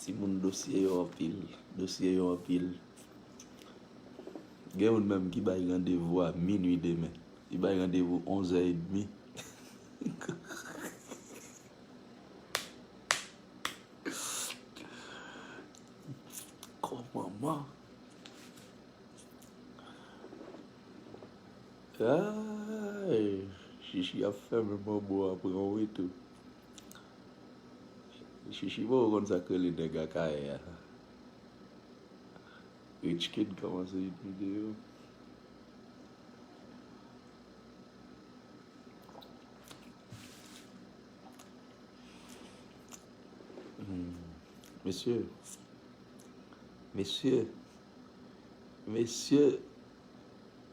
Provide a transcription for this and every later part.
Timoun dosye yo anpil, dosye yo anpil. Gen youn menm ki bay randevou a minwi demen. Li bay randevou onzè edmi. Kò manman. Aayy shishi ap fèmen manbo a pran w wi tou shishi poko konn sak rele nèg akayè a rich kid kòmanse yn video mesye mesye Mesye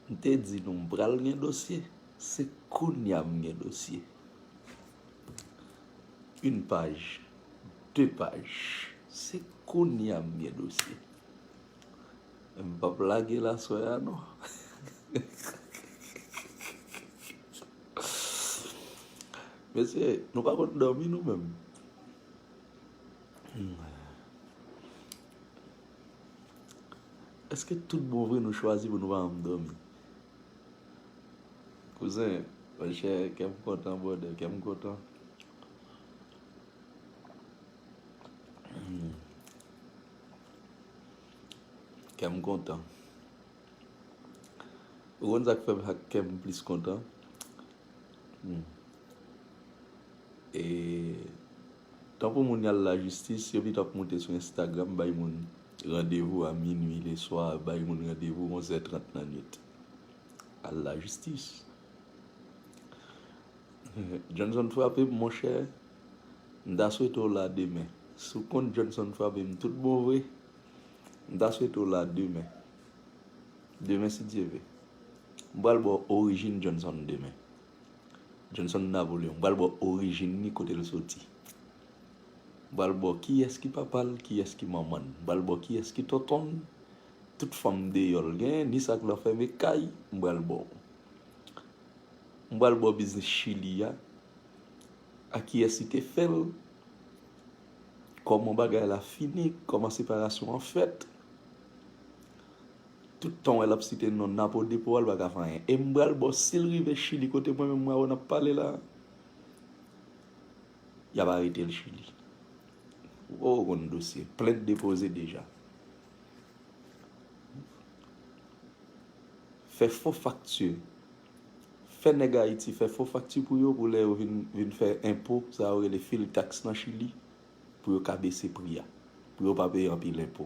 m te di nou m pral gen dosye se kounya m gen dosye yn paj de paj se kounya m gen dosye men m pap lage l aswè a non mesye nou pa konn dòmi nou menm. Eske tout bon vre nou chwazi pou nou pa janm dòmi? Kouzen, monchè, kè m kontan brother, kè m kontan. Kè m kontan. Ou konn sa k fè m ak kè m plis kontan? E. Tankou moun yal lajistis yo pito ap moute sou instagram bay moun randevou a minwi leswa bay moun randevou 11 è 30 nan nwit al lajistis Johnson frape m monchè m ta swete w la demen si w konn Johnson frape m tout bon vre m ta swete w la demen demen si Dye ve m pral ba w orijin Johnson demen. Johnson Napoléon. M pral ba w orijin li, kote l soti. M pral ba w kiyès ki papa l, kiyès ki manman l. M pral ba w kiyès ki tonton l, tout fanm deyò l genyen, ni sa k lanfème kay, m pral ba w. M pral ba w biznis Chili a, ak kiyès li te fè l, kòman bagay la fini, kòman separasyon an fèt. Tout tan wè lap site non napo depo al paka fè anyen em bal bo sil rive chili kote mwen menm mwen wè nap pale la yap aretel chili ou poko konn dosye plent depoze deja fè fo fakti fè nèg ayiti fè fo fakti pou yo pou lè yo vin fè enpo sa yo rele fil tax nan chili pou yo ka bese pri a pou yo pa peye anpil enpo.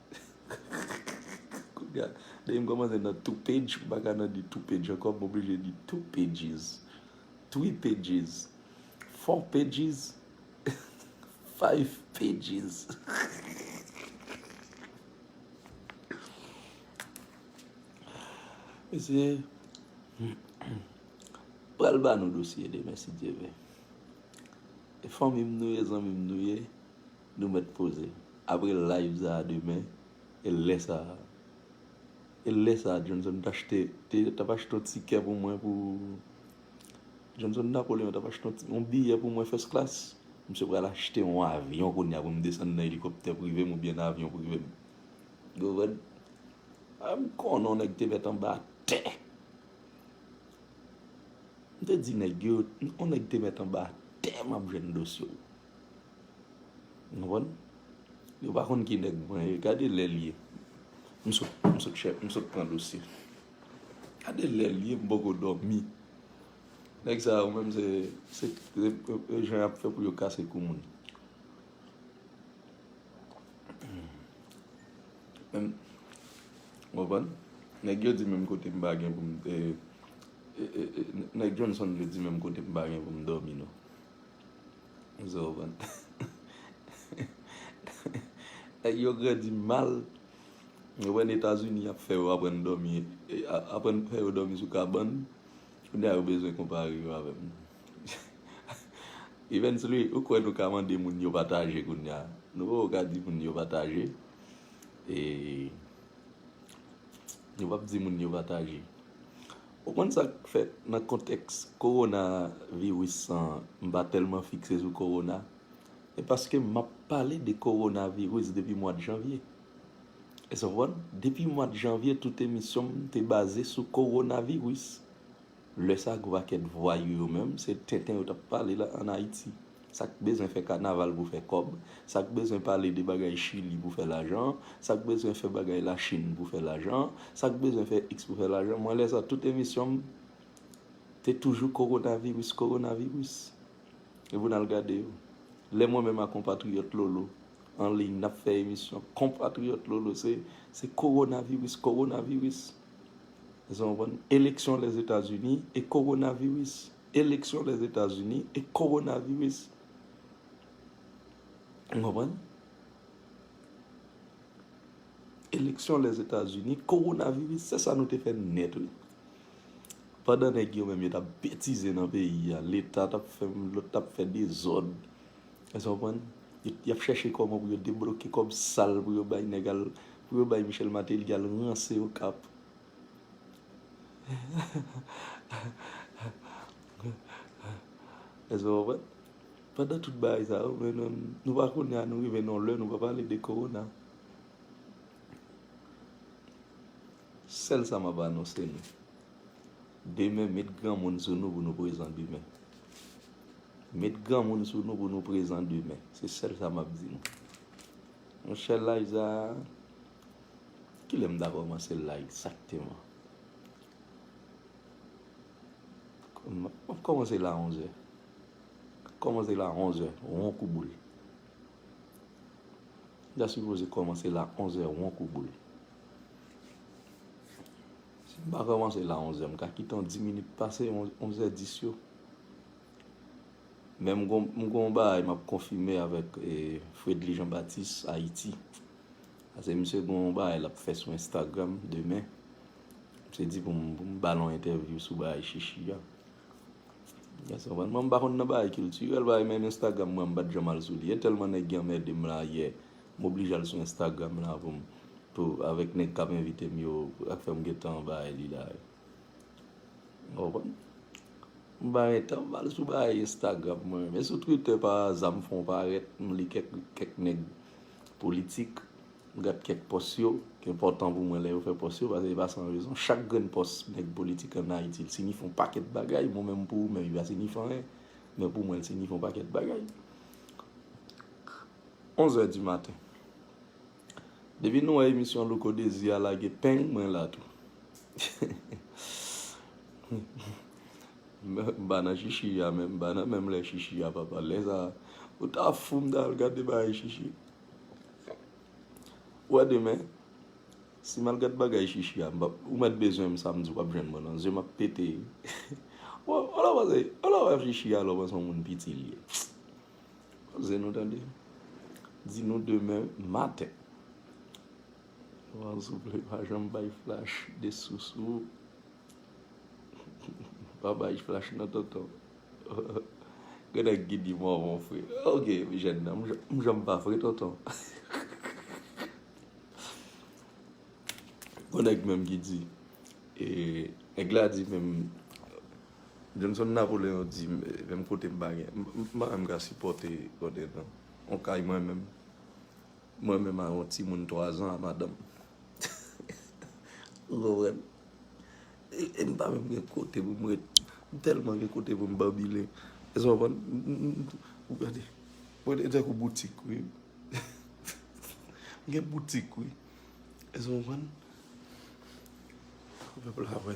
Kounye-a, depi m kòmanse nan two page, m pa ka nan di two page ankò, m oblije di two pages, three pages, four pages, five pages. Mesye, m pral ba nou dosye demen si Dye vle. E fanmi m nou ye, zanmi m nou ye. Nou mèt poze. Apre live sa a demen, e lè sa a. E lè sa a Johnson t achte, t ap achte yon tikè pou mwen pou. Johnson Napoleon t ap achte yon ti, yon biyè pou mwen first class. Misye pral achte yon avyon kounya pou m desann nan elikoptè prive m oubyen nan avyon prive m. Gouvèn. A m konnen yon nèg te mèt anba tè. M te di nèg yo, yon nèg te mèt anba tè m ap jwenn dosye w. Nou konn? Yo pa konn ki nèg mwen ye. Gade lè l ye. M sot pran dosye. Gade lè l ye m poko dòmi. Nèg sa yo menm se jan y ap fè pou yo kase kou moun. Nou konn? Nèg yo di menm kote m pa gen pou m te. Nèg Johnson yo di menm kote m pa gen pou m dòmi non. Nèg yo grandi mal. Ou konprann Etazini ap fè yo aprann dòmi, aprann fè yo dòmi sou kabann. Kounye a yo bezwen konpare yo avè m. Evensly, ou kwè nou ka mande moun yo pataje kounye a? Nou poko ka di moun yo pataje. E nou pap di moun yo pataje. Ou konn sak fèt nan kontèks korona viris san m pa tèlman fikse sou korona e paske map pale de korona viris depi mwad janvye es ou konprann depi mwad janvye tout emisyon m te baze sou korona viris lè sa gwo pakèt vwayou yo menm se tenten yo tap pale la an ayiti Sak bezwen fè kanaval pou fè kòb, sak bezwen pale de bagay chili pou fè lajan, sak bezwen fè bagay la chine pou fè lajan, sak bezwen fè x pou fè lajan, mwen lè sa tout emisyon m te toujou coronavirus coronavirus e pou nal gade yo lè mwen menm a konpatriyòt lolo an liy nap fè emisyon konpatriyòt lolo se se coronavirus coronavirus èske nou konprann eleksyon lèzetazini e coronavirus. Eleksyon Lèzetazini e kowonaviris. N konprann? Eleksyon Lèzetazini, kowonaviris, se sa nou te fè nèt wi. Pandan nèg yo menm yo t ap betize nan peyi a, Leta t ap fè m, lòt t ap fè dezòd. Èske w konprann? Y ap chèche kòman pou yo debloke kòb sal pou yo bay nèg al, pou yo bay Michel Martelly al ranse Okap. Èske nou konprann? Pandan tout bagay sa yo, men nou pa konnen a nou rive nan yon lè nou pa pale de kowona. Sèl sa m ap anonse nou, demen met granmoun sou nou pou nou prezan demen. Met granmoun sou nou pou nou prezan demen. Se sèl sa m ap di nou. Monchè laj sa a. Kilè m ta kòmanse la egzakteman? Mwen kòmanse la onzè. Kòmanse la onzè won kou boul. M ta sipoze kòmanse la onzè won kou boul. Si m pa kòmanse la onzè, m ka kite yon di minit pase onzè dis yo. Men m gen yon bagay m ap konfime avèk Fredly Jean Baptiste Haïti. Pase misye gen yon bagay lap fè sou Instagram demen. Misye di pou m ba l yon entèvyou sou bagay shishi a. Yes ou konprann? Mwen m pa konn nan bagay kiltirèl, bagay menm Instagram mwen m pa t janm al sou li. E tèlman nèg gen anmède m la yè, m oblije al sou Instagram la pou m pou avèk nèg k ap envite m yo, ak fè m gen tan bagay li la. Ou konn M bay etanm mal sou bagay Instagram mwen men sou Twitter pa aza m fon parèt m li kèk kèk nèg politik m gad kèk pòs yo ki enpòtan pou mwen lè yo fè pòs yo paske e pa san rezon chak grenn pòs nèg politik an Ayiti l sinifye yon pakèt bagay mwen menm pou ou menm li pa sinifye anyen men pou mwen l sinifye yon pakèt bagay 11 è di maten. Depi nou wè emisyon louko dezi a lage peng mwen la tou Mba nan chichi a menm mba nan menm lè chichi a papa lè sa ou ta fou m ta al gade bagay chichi ou wè demen si mal gad bagay chichi a mpa ou mèt bezwen m samdi wap jwenn mwen nan zyem ap pete ou wè ou la panse ou la wè chichi a la ou panse on moun piti li ye. Poze nou tande. Di nou demen maten. Wan souple pa janm bay flash de sousou. Pa bay flash nan tonton. Gen nèg ki di mò mò fre. Ok jèn nan m janm pa fre tonton. Gon nèg menm ki di. Nèg la di menm. Johnson Napoleon di m menm kote m pa gen m pa menm ka sipòte kote nan yon kay mwen menm mwen menm a yon timoun 3 zan a madanm ou konprann e m pa menm gen kote pou m ret m tèlman gen kote pou m banbile èske w konprann ou gade mwen e tankou boutik wi m gen boutik wi èske w konprann pèp la wè.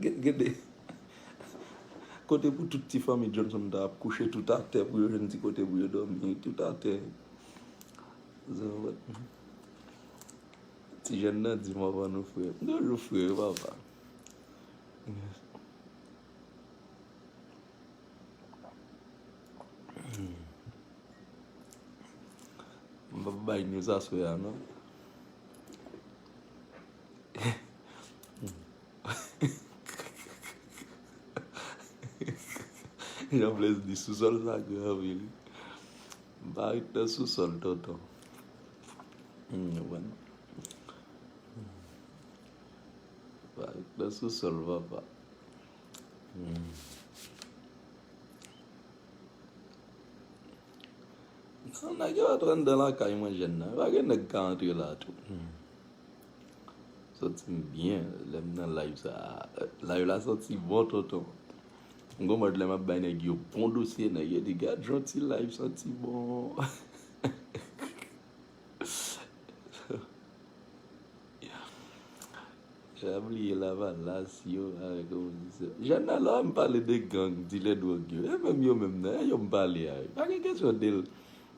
Gen de kote pou tout ti fanmi Johnson ta ap kouche tout atè pou yo jwenn ti kote pou yo dòmi tout atè. Ti jèn nan di m anvan nou fre. M toujou fre wi papa. M pap bay news aswè a non. Jean Blaise di sousòl sa gen anvi li. M pa ret nan sousòl tonton. Pa ret nan sousòl papa. Nèg yo ap rantre nan lakay mwen jèn nan. Pa gen nèg ka antre la tou. Santi m byen lè m nan live sa a. Live la santi bon tonton. M gen mòd lè m ap bay nèg yo bon dosye, nèg yo di gad jan ti live santi bon. Jan yo bliye lavalas yo avèk opozisyon. Jan nan lò m pale de gang, dilè dwòg yo. E menm yo menm nan, e yo m pale a yo. Pa gen kesyon de l.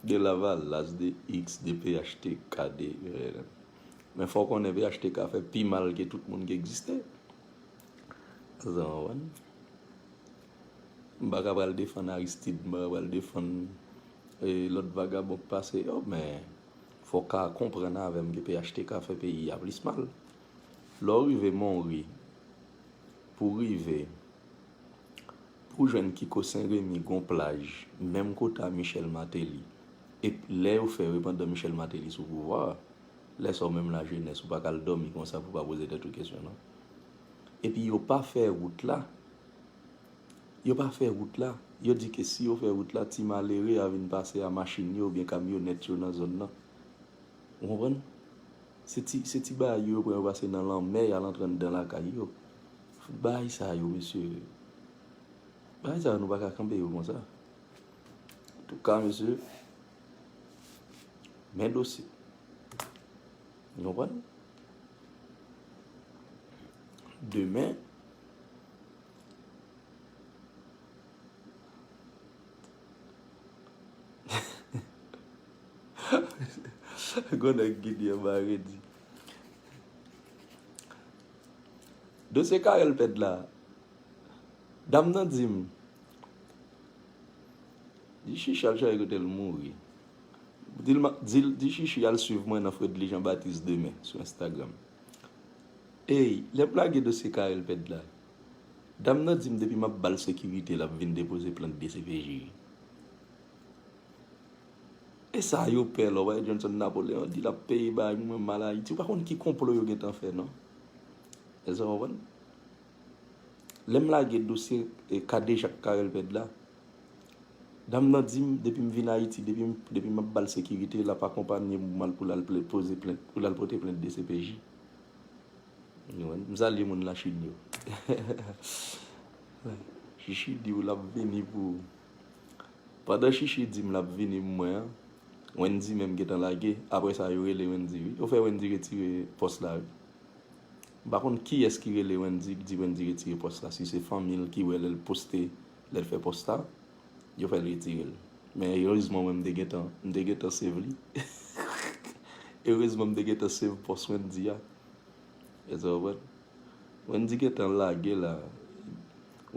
De lavalas, de X, de phtk, de UNN. Men fò w konnen phtk fè pi mal ke tout moun ki egziste. Èske nou konprann? M pa ka pral defann Aristide, m pa ka pral defann lòt vagabon ki pase yo, men fò w ka konprann avè m ke phtk fè peyi a plis mal. Lè w rive Monri, pou w rive. Pou jwenn kiko sen remi gon plaj menm kote a michel mateli ep lè yo fè yo pandan michel mateli sou pouvwa lè sa ou menm la jenès ou pa kal domi konsa pou pa poze tèt ou kesyon non epi yo pa fè rout la yo pa fè rout la yo di ke si yo fè rout la ti malere a vin pase a machin yo oubyen kamyonèt yo nan zòn nan ou konprann se ti se ti bagay yo yo pran yo pase nan lanmè yal antre anndan lakay yo Fout bahay sa yo mesye. Bahay sa yo nou pa ka kanpe yo konsa. Antouka mesye. Men dosye. Nou konprann? Demen. Gonna gidye mare di. Dosye Carel pèd la, dam nan di m, Di Shishi al chache kote l mouri. Di l m ap di l, di Shishi al swiv mwen nan Fredly Jean Baptiste demen sou Instagram. Ey, lè m lage dosye Carel pèd la, dam nan di m depi m ap ba l sekirite l ap vin depoze plent dcpj. Esa yo pè la w pa wè Johnson Napoléon di lap peye bay moun menm mal ayiti ou pa konn ki konplo yo gentan fè non Eske w konprann Lè m lage dosye kadejak Carel Pèd la dam nan di m depi m vin ayiti depi m ap ba l sekirite lap akonpanye m pou l al poze plent pou l al pote plent dcpj M salye moun lachin yo Shishi di w lap vini pou ou. Pandan Shishie di m l ap vini pou mwen an, Wendy menm gentan lage. Apre sa, yo rele Wendy wi. Yo fè Wendy retire pòs la wi. M pa konn kiyès ki rele Wendy, di Wendy retire pòs la. Si se fanmi l ki wè lè l poste, lè l fè pòs la, yo fè l retire l. Men erezman mwen m te gentan, m te gentan save li. Erezman m te gentan save pòs Wendy a. Èske w konprann? Wendy gentan lage la.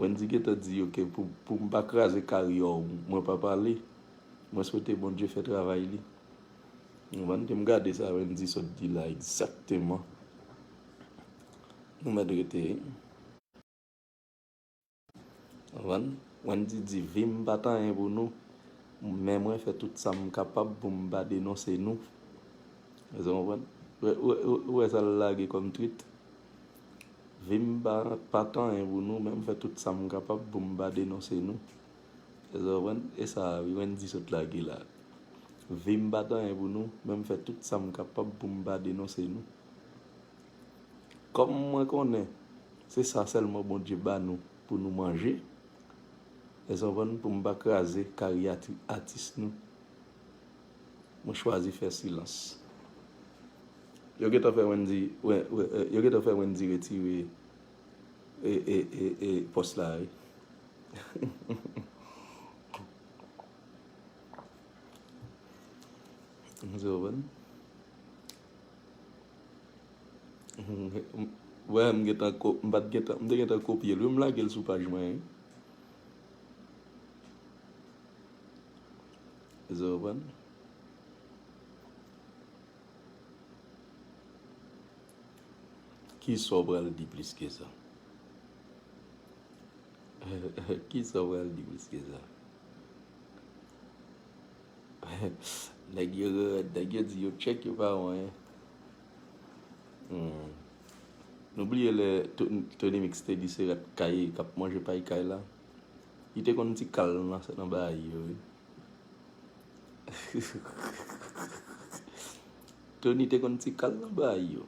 Wendy gentan di yo ke pou m pa kraze karyè w mwen pa pale, mwen swete Bondye fè travay li. Nou konprann ke m gade sa Wendy sot di la egzakteman. Nou mèt rete. Konprann? Wendy di vi m pa t anyen pou nou, men mwen fè tout sa m kapab pou m pa denonse nou. Èske w konprann? Ou wè sa l lage kòm twit? Vim pa pa t anyen pou nou men m fè tout sam kapab pou m pa denonse nou Eske w konprann e sa a wi Wendy sot lage la Vim pa t anyen pou nou men m fè tout sam kapab pou m pa denonse nou Kòm mwen konnen se sa sèlman Bondye ba nou pou nou manje Eske w konprann pou m pa kraze karyati atis nou. Mwen chwazi fè silans. Yo gentan fè Wendy yo gentan fè Wendy retire e pòs la wi. Wè m gentan ko m pat gentan m te gentan kopye l wi m lage l sou paj mwen wi. Kisa w pral di plis ke sa? Nèg yo rèd, nèg yo di yo tchèk yo pa wè anyen. Nou bliye lè Tony Mix te di se rat kay kap manje pay kay la? Li te konn ti kal nan sa nan bayi yo wi. Tony te konn ti kal nan bayi yo.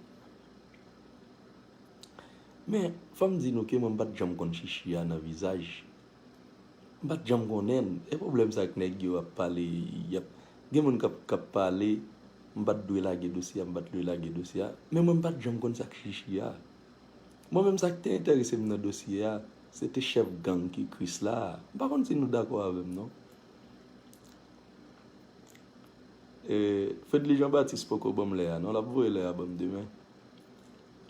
Men, fò m di nou ke mwen m pa t janm konn Chichi a nan vizaj. M pa t janm konnen l. E pwoblèm sa ak nèg yo ap pale, y ap, gen moun k ap, k ap pale, m pa t dwe lage dosye a, m pa t dwe lage dosye a. Men mwen m pa t janm konn sa ak Chichi a. Mwen menm sak te enterese m nan dosye a se te chèf gang ki krisla a. M pa konn si nou dakò avè m non. Fedly Jean Baptiste poko banm lè a non, lap voye lè a banm demen.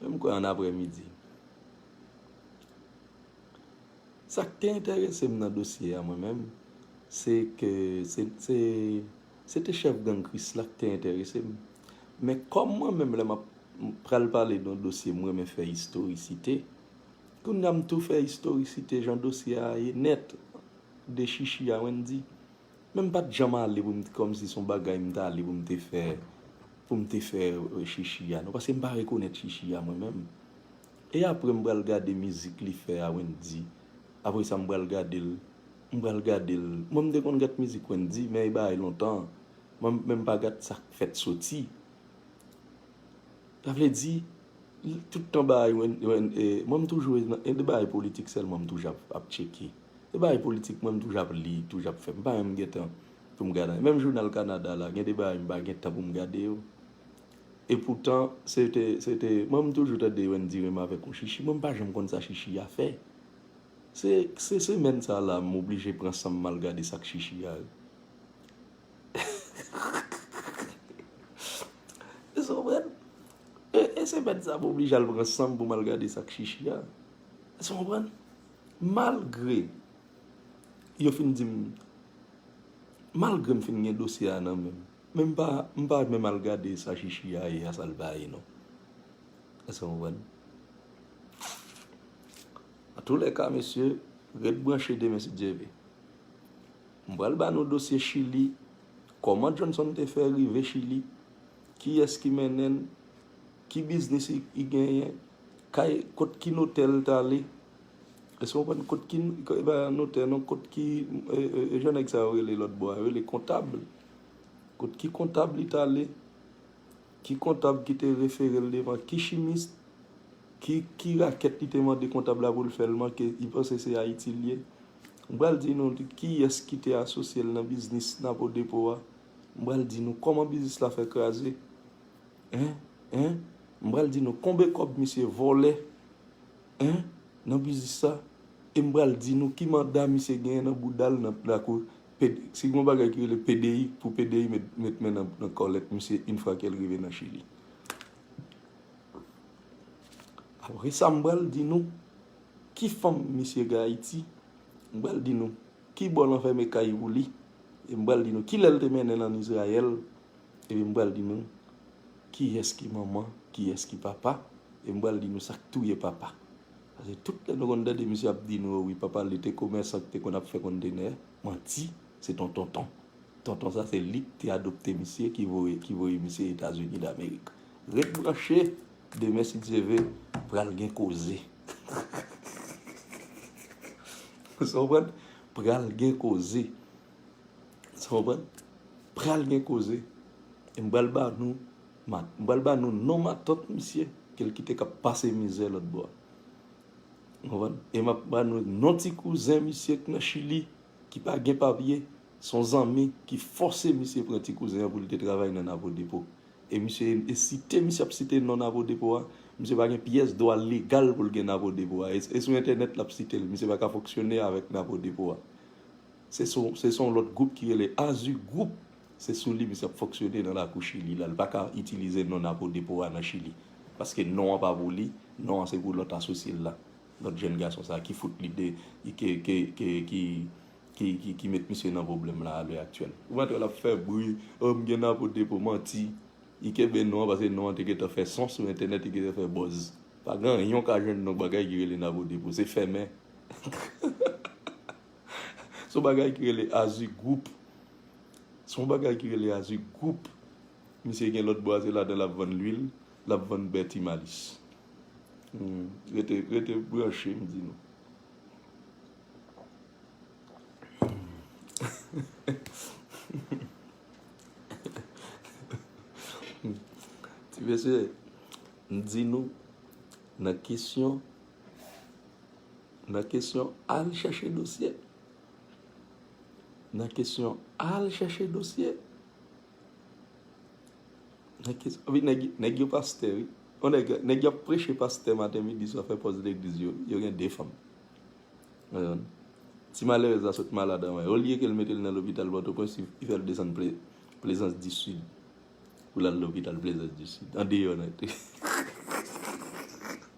Men m kwè an aprè midi. Sak te enterese m nan dosye a mwen menm se ke se te Se te chèf gang Kris la ki te enterese m. Men kòm mwen menm lè m ap pral pale don dosye m renmen fè istorisite, kounye a m tou fè istorisite jan dosye a ye nèt de Chichi a Wendy. Men m pa t janm ale pou m t kòmsi s on bagay m t ale pou m te fè pou m te fè Chichi a non paske m pa rekonèt Chichi a mwen menm. E apre m pral gade mizik li fè a Wendy, apre sa m pral gade l M pral gadel. Mwen m te konn gat mizik Wendy men e bagay lontan. Mwen m menm pa gat sak fèt soti. Sa vle di tout tan bagay mwen m toujou e de bagay politik sèlman m toujou ap tcheke. De bagay politik mwen m toujou ap li, toujou ap fè. M pa menm gen tan pou m gade. Menm jounal Kanada la gen de bagay m pa gen tan pou m gade yo. E poutan se te se te mwen m toujou tande Wendy renmen avèk yon chichi mwen m pa janm konn sa chichi a fè. Se semèn sa la m oblije pran san m mal gade sak chichi a yo. Èske w konprann? E semèn sa m oblije al pran san m pou m al gade sak chichi a. Èske w konprann? Malgre yo fin di m, malgre m fin gen dosye a nan menm, men m pa menm al gade sa chichi a ye a sa l pa ye non. Èske w konprann? An tou lè ka mesye, ret branche demen si Dye ve. M pral ba nou dosye Chili, kòman Johnson te fè rive Chili, kiyès ki mennen l, ki biznis li genyen, kay, kot ki notè l t ale, èske w konprann, kot ki, e pa notè non, kot ki, e jan nèg sa yo rele lòt bò a, yo rele kontab, kot ki kontab li t ale. Ki kontab ki te refere l devan ki chimist, ki ki rakèt li te mande kontab la pou l fè l manke li panse se Ayiti l ye. M pral di nou kiyès ki te asosye l nan biznis Napo Depo a. M pral di nou kòman biznis la fè kraze. Hein? Hein? M pral di nou konbe kòb misye vòlè. Hein? Nan biznis sa. E m pral di nou ki manda misye genyen nan bouda l nan lakou Si gon bagay ki rele pdi pou pdi met men nan kòlèt misye yn fwa kel rive nan chili. Apre sa m pral di nou ki fanm misye gen ayiti, m pral di nou ki bò lan fèmen kay pou li, e m pral di nou kilè l te mennen l an izrayèl, epi m pral di nou kiyès ki manman kiyès ki papa, e m pral di nou sak touye papa. Paske tout lè nou konn tande misye ap di nou yo wi papa li te komèsan ki te konn ap fè kontenè, manti, se ton tonton. Tonton sa se lik te adopte misye ki voye ki voye misye Etazini damerik. Ret branche, demen si Dye ve, pral gen koze. Sa w konprann? Pral gen koze. Sa w konprann? Pral gen koze. E m pral ba nou Mat, m pral ba nou non matant misye ke l kite k ap pase mizè lòtbò a. N konprann? E m ap ba nou non ti kouzen misye k nan Chili ki pa gen papye, s on zanmi ki fòse misye pran ti kouzen an pou l te travay nan Napo-Depo. E misye, e site misye ap site non Napo-Depo a, misye pa gen pyès dwa legal pou l gen Napo-Depo a. E sou entènèt l ap site l. Misye pa ka fonksyone avèk Napo-Depo a. Se se yon lòt gwoup ki rele Azu Group, se sou li misye ap fonksyone nan lakou Chili la, li pa ka itilize non Napodepo a nan Chili, paske non an pa pou li, non an se pou lòt asosye l la, lòt jèn gason sa ki fout li de, ke, ke, ke, ki, ki, ki, ki met misye nan pwoblèm la a lè aktyèl. Ou pa t wè l ap fè bri, oh m gen Napodepo, manti, li kenbe non an paske non an te gentan fè son sou entènèt, li gentan fè buzz. Pa gen anyen w ka jwenn nan bagay ki rele Napodepo, se fèmen. Son bagay ki rele Azu group. Son bagay ki rele Azu group. Misye gen lot bwa se ladan lap vann lwil, lap vann bè ti malis. Rete, rete branche m di nou. Ti mesye, m di nou nan kesyon. Nan kesyon al chèche dosye. Nan kesyon al chèche dosye. Nan kesyon, vi nèg, nèg yo pastè, vi. On nèg, nèg yo preche pastè maten midi swa fè pòz legliz yo, yo gen de fanm. Ayon, ti malere za sot malad anwen. O liye ke l mete l nan lopital bòt o pwens, i fè l desann ple, plezans di sid. Pou l al lopital plezans di sid. An deyò nèt.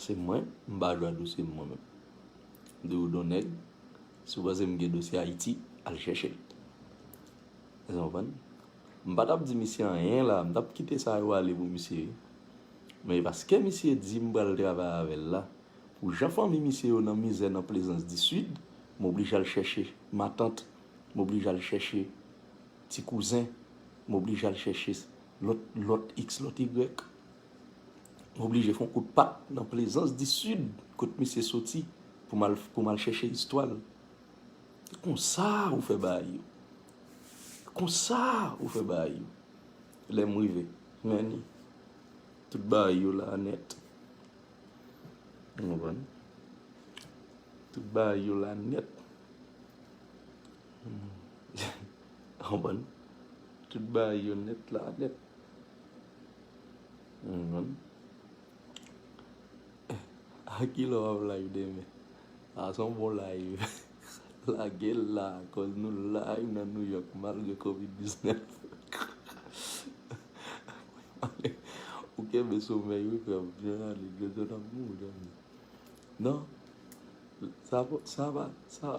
Se mwen, m pa jwe ak dosye m mwen menm. M di w don nèg, si w panse m gen dosye Ayiti, al chèche l. Èske w konprann? M pa t ap di misye anyen la, m t ap kite sa yo ale pou misye wi. Men paske misye di m pral travay avè l la, pou jan fanmi misye yo nan mizè nan Plezans di Sid, m oblije al chèche matant, m oblije al chèche ti kouzen, m oblije al chèche lòt, lòt iks, lòt igrèk. M oblije fè yon kout pa nan Plezans di Sid kot misye soti pou m al chèche istwa l. E konsa ou fè bagay yo. E konsa ou fè bagay yo. Lè m rive, men ni. Tout bagay yo la nèt. Ou konprann? Tout bagay yo la nèt. Ou konprann? Tout bagay yo nèt la nèt. A ki lè w ap live demen? Sa se yon bon live. Lage l la koz nou live nan Nouyok malgre covid 19. Ou kenbe somèy wi frè m. Jwenali Jojo nan mou ou zanmi. Non, sa pa, sa pa, sa.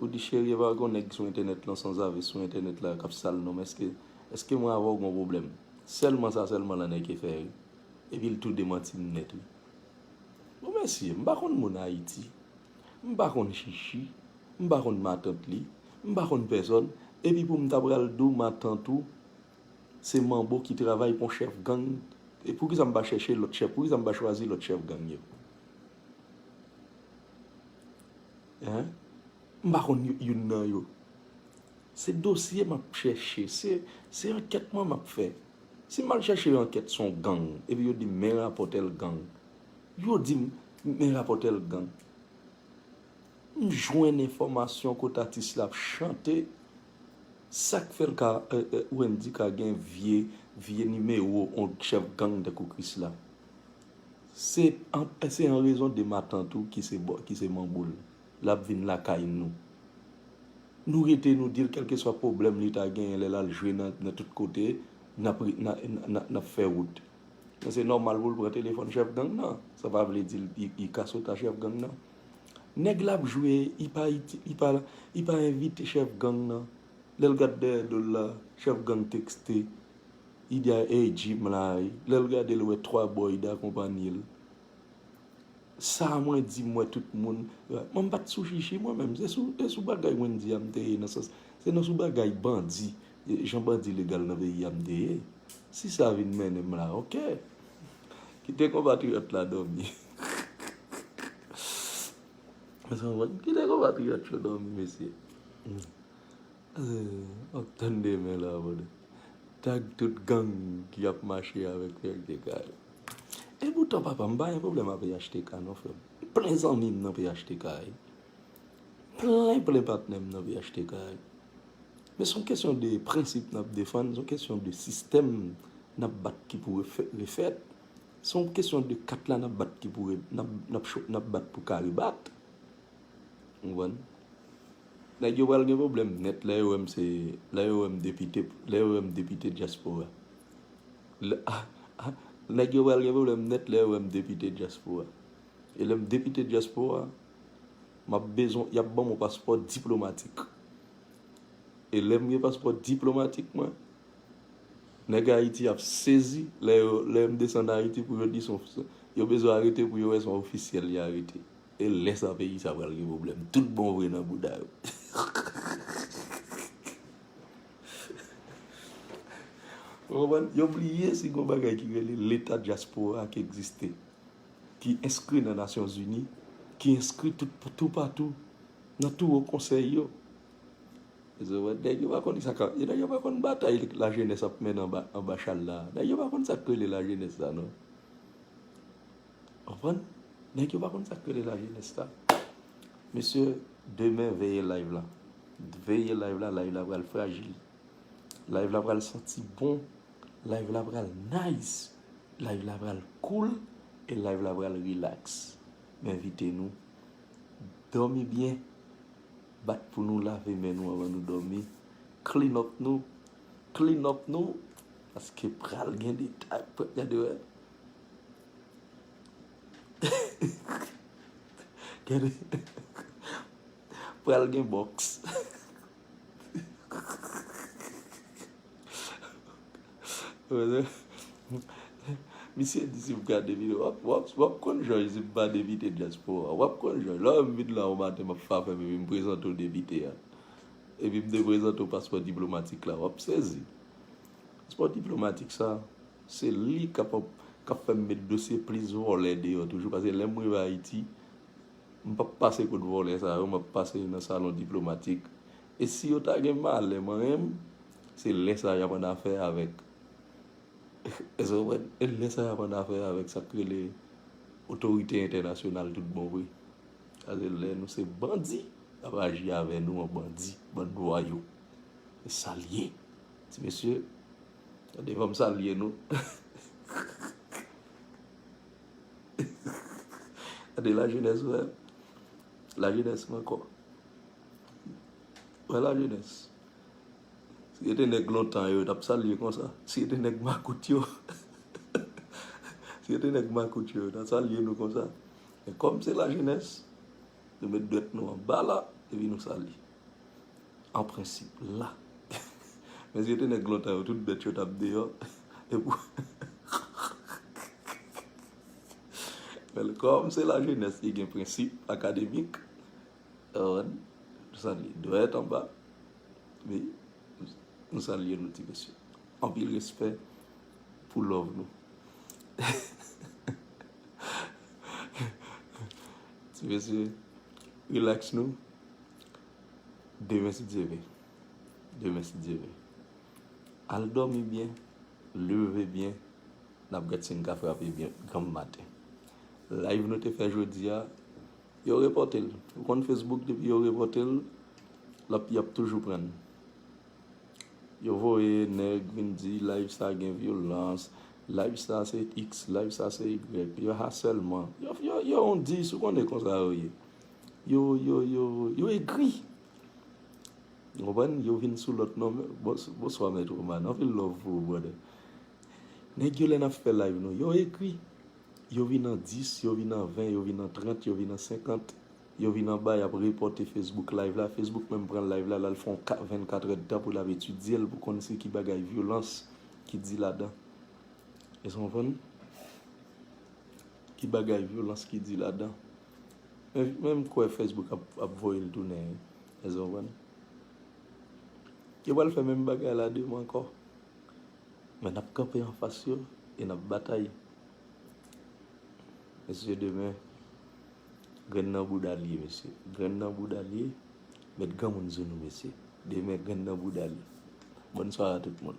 Ou di cheri epa gon nèg sou entènèt lan sanzave sou entènèt la kap sal nonm eske eske mwen avèw gon pwoblèm sèlman sa sèlman lanèke fè ri epil tou demantim nèt wi bon mesye mpa konn moun ayiti mpa konn chichi mpa konn matant li mpa konn pèsòn epi poum ta pral diw matant ou se manbo ki travay pou yon chèf gang poukisa mpa chèche lòt chèf poukisa mpa chwazi lòt chèf gang yo. Hein m pa konn youn nan yo. Se dosye m ap chèche. Se ankèt mwen m ap fè. Si m al chèche yon ankèt son gang epi yo di m men rapòtè l gang. Yo di m men rapòtè l gang. M jwenn enfòmasyon kote atis la ap chante. Sa k fè l ka Wendy ka gen vye nimewo yon chèf gang tankou Krisla. Se an rezon de matant ou ki se manbo l, l ap vin lakay nou. Nou rete nou di l kèlkeswa pwoblèm li ta genyen lè l al jwe nan tout kote, n ap fè wout. Men se nòmal pou l pran telefòn chèf gang nan. Sa pa vle di li ka sot a chèf gang nan. Nèg l ap jwe, li pa envite chèf gang nan. Lè l gad dèyè do l la, chèf gang tekste Ida ey Jim la ui lèl gadel wè 3 bò Ida konpanyel sa mwen di mwen tout moun mwen mpat sou chichi mwen menm se sou e sou bagay Wendy a mte ye nan sans se nan sou bagay bandi jan bandi legal nan peyi a mte ye si sa vin mennenm la ok kite konpatriyòt la dòmi kite konpatriyòt yo dòmi mesye. Map tann demen la brother. Tag tout gang ki ap mache avek phtk yo. Epoutan papa m pa gen pwoblèm a phtk non frè m. M plen zanmi m nan phtk yo. Plen plen patnè m nan phtk yo. Men son kesyon de prensip nap defann, son kesyon de sistèm nap bat ki pou refèt, son kesyon de kat la nap bat ki pou nap bat pou ka rebat. Ou konprann? Nèg yo pral gen pwoblèm nèt lè yo wè m se, lè yo wè m depite, lè yo wè m depite dyaspora. Nèg yo pral gen pwoblèm nèt lè yo wè m depite dyaspora. E lè m depite dyaspora, m ap bezwen, y ap ban m yon paspò diplomatik. E lè m gen paspò diplomatik mwen, nèg Ayiti ap sezi lè yo, lè m desann Ayiti pou yo di son, yo bezwen arete pou yo wè son ofisyèl y arete. E lè sa peyi sa pral gen problème tout bon vre nan bouda yo. Ou konprann? Yo bliye si gon bagay ki rele leta dyaspora ki egziste, ki enskri nan Nasyon Zini, ki enskri tou patou, nan tou wo konsèy yo. Ou konprann? Nèg yo pa konn sa kap, nèg yo pa konn batay la jenès ap mennen anba chal la. Nèg yo pa konn sa k rele la jenès sa non. Konprann? Nèg yo pa konn sak rele la jenès la. Mesye demen veye live la. Veye live la, live la pral frajil. Live la pral santi bon. Live la pral nice. Live la pral cool. E live la pral relax. M envite nou. Domi byen. Bat pou nou lave men nou avan nou domi. Clean up nou. Clean up nou. Paske pral gen detay. Gade wè. Pral gen boks. Misye di si m gade video wap wap konn jòj si m pa depite dyaspowa a. Wap konn jòj. Lè ou wè m vin la yon maten m ap fafèm epi m prezante w depite a. Epi m deprezante w paspò diplomatik la. Wap sezi. Paspò diplomatik sa. Se li kap kap fèm met dosye plis vòlè deyò toujou pase lèm rive ayiti m pap pase kot vòlè sa yo map pase nan salon diplomatik e si yo ta gen malè manyen m se lè sa yap annafè avèk èske ou konprann e lè sa yap annafè avèk sak rele otorite entènasyonal tout bon vre pase lè nou se bandi yap aji avè nou an bandi bann vwayou e sal ye ti mesye. Tande banm salye nou. Gade la jenès wè. La jenès mwen kò. Wè la jenès. Si e te nèg lontan yo tap salye konsa. Si e te nèg makout yo. Si e te nèg makout yo tap salye nou konsa. Men kòm se la jenès. Nou met dwèt nou anba la. Epi nou salye. An prensip, la. Men si yo te nèg lontan yo, tout bèt yo t ap deyò. Bèl kòm se lajenès ki gen prensip akademik. Òn, nou salye dwèt anba. Wi, nou salye nou ti mesye. Anpil respè pou love nou. Ti mesye, relax nou. Demen si Dye vle. Demen si Dye vle. Al dòmi byen. Leve byen. N ap gad si n ka frape byen granm maten. Live nou te fè jodi a, yo repòte l. Ou konn Facebook depi yo repòte l, l ap, y ap toujou pran. Yo voye nèg vin di live sa gen vyolans, live sa se iks, live sa se yigwèk, yo asèlman. Yo, yo, yo on dis, ou konn e konsa yo ye. Yo yo yo yo egri. Ou konprann? Yo vin sou lòt non. Bonswa mèt Roman. Anpil love pou ou brother. Nèg yo lè n ap fè live nou yo egri. Yo vin an 10, yo vin an 20, yo vin an 30, yo vin an 50. Yo vin anba y ap repòte Facebook live la. Facebook menm pran live la l al fè yon 24 èd tan pou l ap etidye l pou konn se ki bagay vyolans ki di ladan. Èske w konprann? Ki bagay vyolans ki di ladan. Men m kwè Facebook ap voye l tounen wi. Èske nou konprann? Yo pral fè menm bagay la demen ankò. Men n ap kanpe anfas yo e n ap batay. Mesye demen, grenn nan bouda l ye mesye. Grenn nan bouda l ye. Met granmoun sou nou mesye. Demen grenn nan bouda l ye. Bonswa a tout moun.